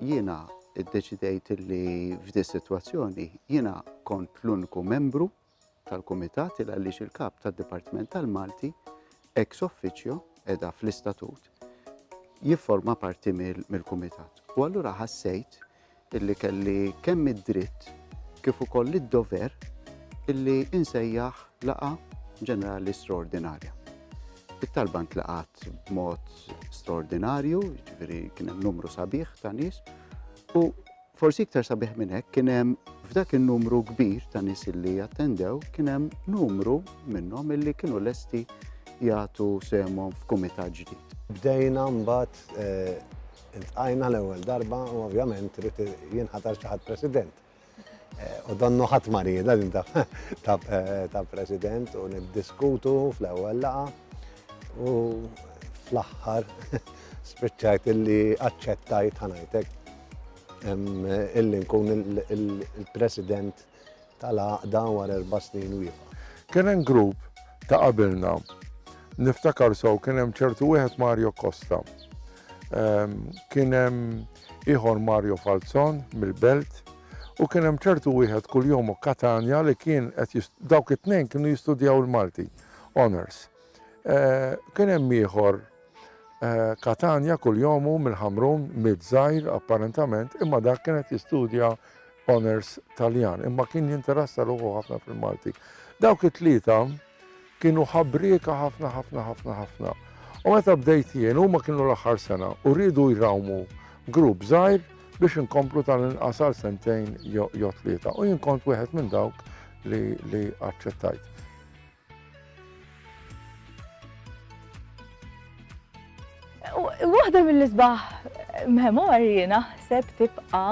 Jiena ddeċidejt li f'di s-sitwazzjoni jiena kont l-uniku membru tal-Kumitat il għaliex il-Kap tad-Dipartiment tal-Malti ex officio qiegħda fl-istatut jifforma parti mill-Kumitat. U allura ħassejt illi kelli kemm id-dritt kif ukoll id-dover illi insejjaħ Laqgħa Ġenerali Straordinarja. It-talba ntlaqgħet b'mod straordinarju, jiġifieri kien hemm numru sabiħ ta' nies, u forsi iktar sabiħ minn hekk kien hemm f'dak in-numru kbir ta' nies illi attendew, kien hemm numru minnhom illi kienu lesti jagħtu semhom f'kumitat ġdid. Bdejna mbagħad eh, iltqajna l-ewwel darba u ovvjament rrid jinħatar xi ħadd President. U donnu ħadd ma riedha din ta' President u niddiskutu fl-ewwel laqa u fl-aħħar spiċċajt illi aċċettajt ħanajtek illi nkun il-President tal-għaqda wara erba' snin u jibqa'. Kien hemm grupp ta' qabilna. Niftakar sew kien hemm ċertu wieħed Mario Costa. Kien hemm ieħor Mario Falzon mill-Belt u kien hemm ċertu wieħed Kuljomo Catania li kien qed jis dawk it-tnejn kienu jistudjaw il-Malti, honours. Kien hemm ieħor Catania Kuljomo mill-Ħamrun, midd żgħir apparentament, imma dak kien qed jistudja honours Taljan, imma kien jinteressa ruħu ħafna fil-Malti. Dawk it-tlieta Kienu ħabrieka ħafna ħafna ħafna ħafna. U meta bdejt jien huma kienu l-aħħar sena u riedu jrawmu grupp żgħir biex inkomplu tal-inqas għal sentejn jew tlieta. U jien kont wieħed minn dawk li aċċettajt. Waħda mill-isbaħ memorji naħseb tibqa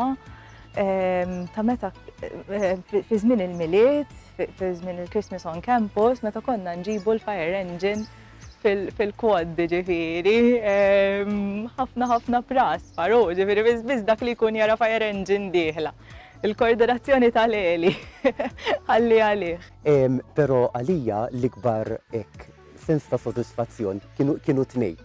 ehm, ta' meta ehm, fi żmien il-miliet fi żmien il-Christmas on campus meta konna nġibu l-fire engine fil-quad ġifiri, ehm, ħafna ħafna pras, faru, ġifiri, biz dak li kun jara fire engine diħla. Il-koordinazzjoni tal-eli, għalli għalih. Ehm, Pero għalija l-ikbar ek sens ta' soddisfazzjon kienu tnej.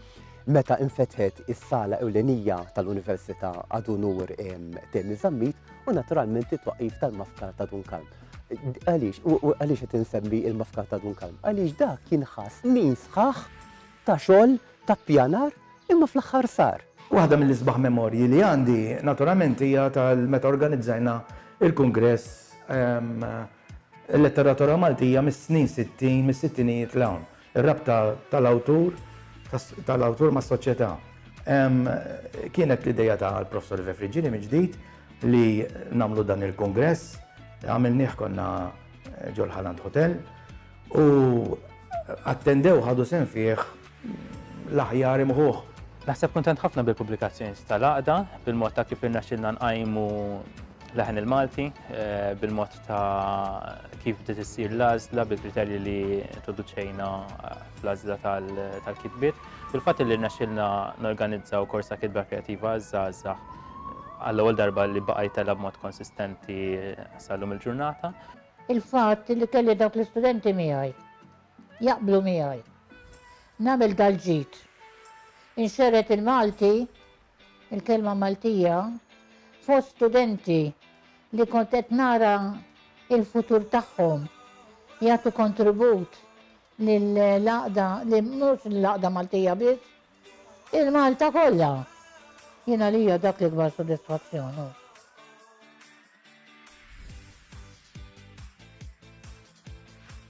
Meta infetħet is-sala ewlenija tal-Università għadu nur ehm, Temi Zammit u naturalment it-twaqif tal-mafkar ta' Dunkalm. Għaliex, u għaliex qed insemmi il-mafkar ta' Dun Kalm? Għaliex dak kien ħass li sħaħ ta' xogħol ta' pjanar imma fl-aħħar sar. Waħda mill-isbaħ memorji li għandi naturalment hija tal-meta organizzajna il-kungress ehm, Il-Letteratura Maltija mis-snin 60, mis-sittinijiet l-hawn. Ir-rabta tal-awtur tal-awtur mas-soċjetà. Kienet l-idea tal-Professor Ive Friggini mill-ġdid li nagħmlu dan il-kungress, għamilnieh konna ġol Haland Hotel u attendew ħadu sehem fih l-aħjar imħuħ. Naħseb kuntent ħafna bil-pubblikazzjoni tal-għaqda, bil-mod ta' kif irnexxilna nqajmu l-leħen il-Malti, bil-mod ta' kif bdiet issir l-għażla bil-kriterji li introduċejna eh, fl-għażla tal-kitbiet. Il-fatt li rnexxilna norganizzaw korsa kitba kreativa għaż-żgħażagħ għall-ewwel darba li baqa' jitella b'mod konsistenti sal-lum il-ġurnata. Il-fatt li kelli dawk l-istudenti miegħi jaqblu miegħi. Nagħmel dal-ġid. Inxeret il-Malti il-kelma Maltija fost studenti li kont qed nara l-futur tagħhom jagħtu kontribut lill-għaqda, li mhux lill-għaqda Maltija biss, il-Malta kollha. Jien għalija dak l-ikbar sodisfazzjon.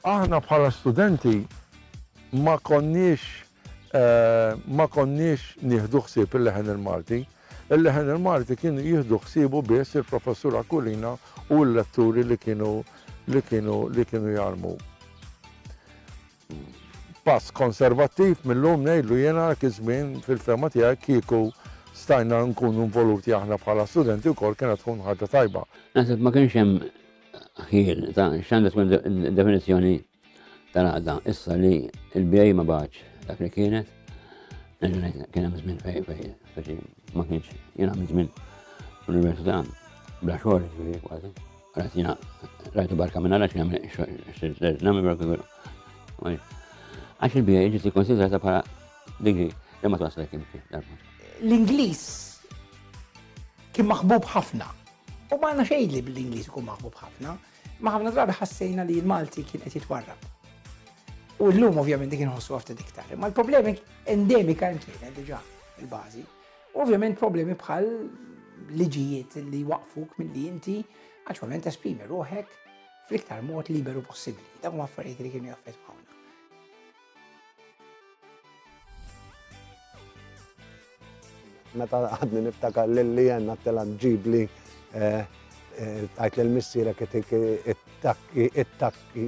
Aħna bħala studenti ma konniex ma konniex nieħdu ħsieb il-leħen il-Malti. Il-leħen il-Malti kienu jieħdu ħsiebu biss il-professur Akulina u l-letturi li kienu li kienu li kienu jarmu. Pass konservattiv mil-lum ngħidlu jiena dak iż-żmien fil-fehma tiegħi kieku stajna nkunu involuti aħna bħala studenti wkoll kienet tkun ħaġa tajba. Naħseb ma kienx hemm ħjiel ta' x'għandha tkun id-definizzjoni tal-għaqda issa li l-BA ma bagħatx dak li kienet. Kien hemm żmien fejn fejn ma kienx jien għamil żmien l-università bla xogħol kważi. Għatina, rajtu barka minna għax għamil, namil barka minna. Għax il-bija ġiet ikkonsidrata bħala digri li ma twaslek imti. L-Ingliż kien maħbub ħafna. U ma għandna xejn li bl-Ingliż ikun maħbub ħafna, ma ħafna drabi ħassejna li l-Malti kien qed jitwarrab. U l-lum ovvjament dik inħossu għafta diktar. Ma l-problemi endemika kienet diġa il-bazi. U ovvjament problemi bħal liġijiet li jwaqfuk milli inti aċwament esprimi ruħek fl-iktar mod liberu possibbli. Dak huma affarijiet li kienu jaffettwawna. Meta għadni niftakar lilli jenna tela ġibli eh, eh, għajt l-missira kittik it-takki, it-takki,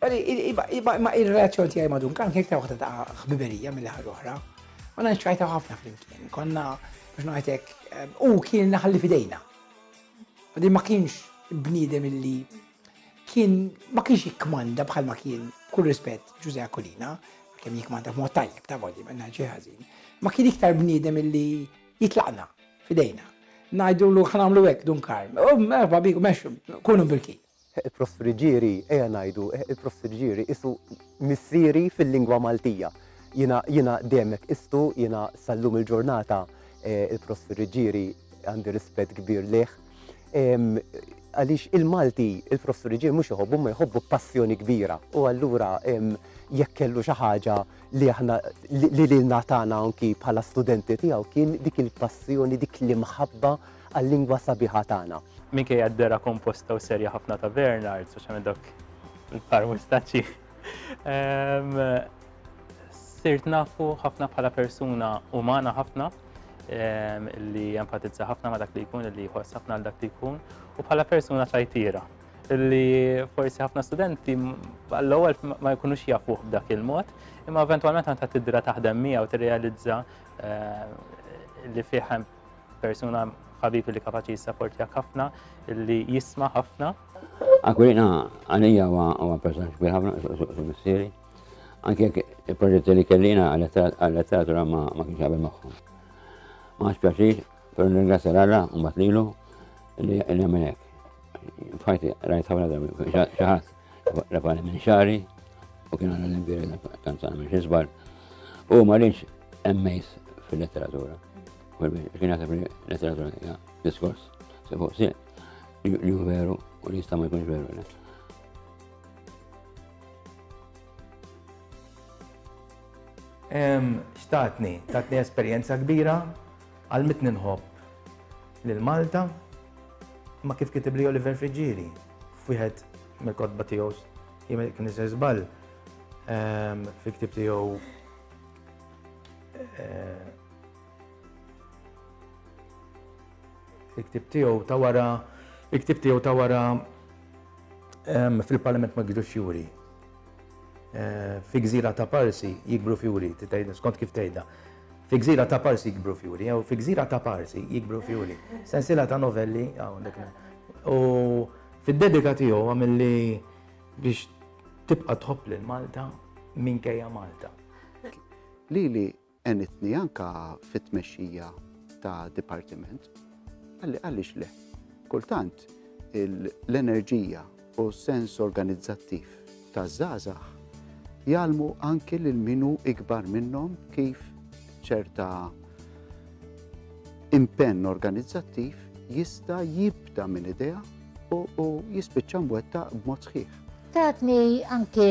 Imma il-relazzjoni tiegħi ma' Duncan kien iktar waħda ta' ħbiberija mill ħar oħra. U nċajta ħafna flimkien. Konna biex ngħidlek u kien naħalli fidejna. U din ma kienx bniedem illi kien ma kienx jikmanda bħal ma kien kull rispett Ġuże Akulina, kemm jikmanda b'mod tajjeb ta' voli ma ngħidx ħażin. Ma kien iktar bniedem illi jitlaqna fidejna. Ngħidulu ħanamlu hekk Duncan. U merħba bik, mexxu, kunu bil-kien. Il-profriġieri, ejja ngħidu, il-profriġieri qisu missieri fil-lingwa Maltija. Jiena, jiena dejjem hekk qistu, jiena sal-lum il-ġurnata il-profriġieri għandi rispett kbir lejh. Għaliex il-Malti, il-profriġieri mhux iħobbu, imma jħobbu b'passjoni kbira. U allura jekk kellu xi ħaġa li aħna li lilna tagħna anki bħala studenti tiegħu kien dik il-passjoni, dik l-imħabba għal-lingwa sabiħa tagħna. Minkejja d-dehra komposta u serja ħafna ta' Bernard, speċjalment dawk il-par mustaċċi, sirt nafu ħafna bħala persuna umana ħafna li jenfatizza ħafna ma dak li jkun, li jħoss ħafna għal dak li jkun, u bħala persuna ċajtira li forsi ħafna studenti għall-ewwel ma jkunux jafuh b'dak il-mod, imma eventwalment għandha tidra taħdem miegħu tirrealizza eh, li fih Persuna ħabib li kapaċi jissaportjak ħafna, li jisma ħafna. Akwilina għalija huwa persuna kbir ħafna su missieri. Anke il-proġetti li kellina għal-letteratura ma kienx għabel magħhom. Ma għax pjaċir, per ringrazzja l-alla, un batlilu, li għamenek. Fajti, rajt ħafna darbi, xaħat. rafani minn xari u kien għana l-imbiri l-kanzana minn xizbar u ma rridx emmejs fil-letteratura. Kien għasab fil-letteratura hija diskors se fuq si li veru u li jista' ma jkunx veru. Xtatni, tatni esperjenza kbira għal mitni nħobb lil Malta ma kif kitib li Oliver Friġġieri. f'wieħed mill-kotba tiegħu jien kien se żball ehm, fil-ktib tiegħu eh, il-ktib tiegħu ta' wara il-ktib tiegħu ta' wara ehm, fil-Parlament ma' Gidux Juri. Fi gżira ta' Parsi jikbru fjuri, tgħidha skont kif tgħidha. Fi gżira ta' Parsi jikbru fjuri, jew fi gżira ta' Parsi jikbru fjuri. Sensiela ta' novelli hawnhekk. U fid-dedika tiegħu għamilli biex tibqa' tħobb lil Malta minkejja Malta. Lili għenitni anka fit-tmexxija ta' dipartiment. Għalli għaliex le? Kultant l-enerġija u sens organizzattiv ta' zazax jgħalmu anki lil minu ikbar minnhom kif ċerta impenn organizzattiv jista' jibda minn idea u jispiċċa mwettaq b'mod sħiħ. Tatni anki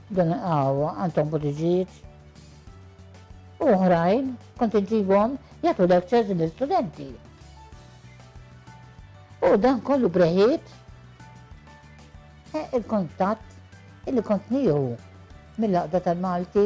Din il-qahwa għandhom butiġijiet u oħrajn kont iġibhom jagħtu lectures lill-studenti. U dan kollu breħiet eh, il-kontatt illi kont nieħu mill-laqda tal-Malti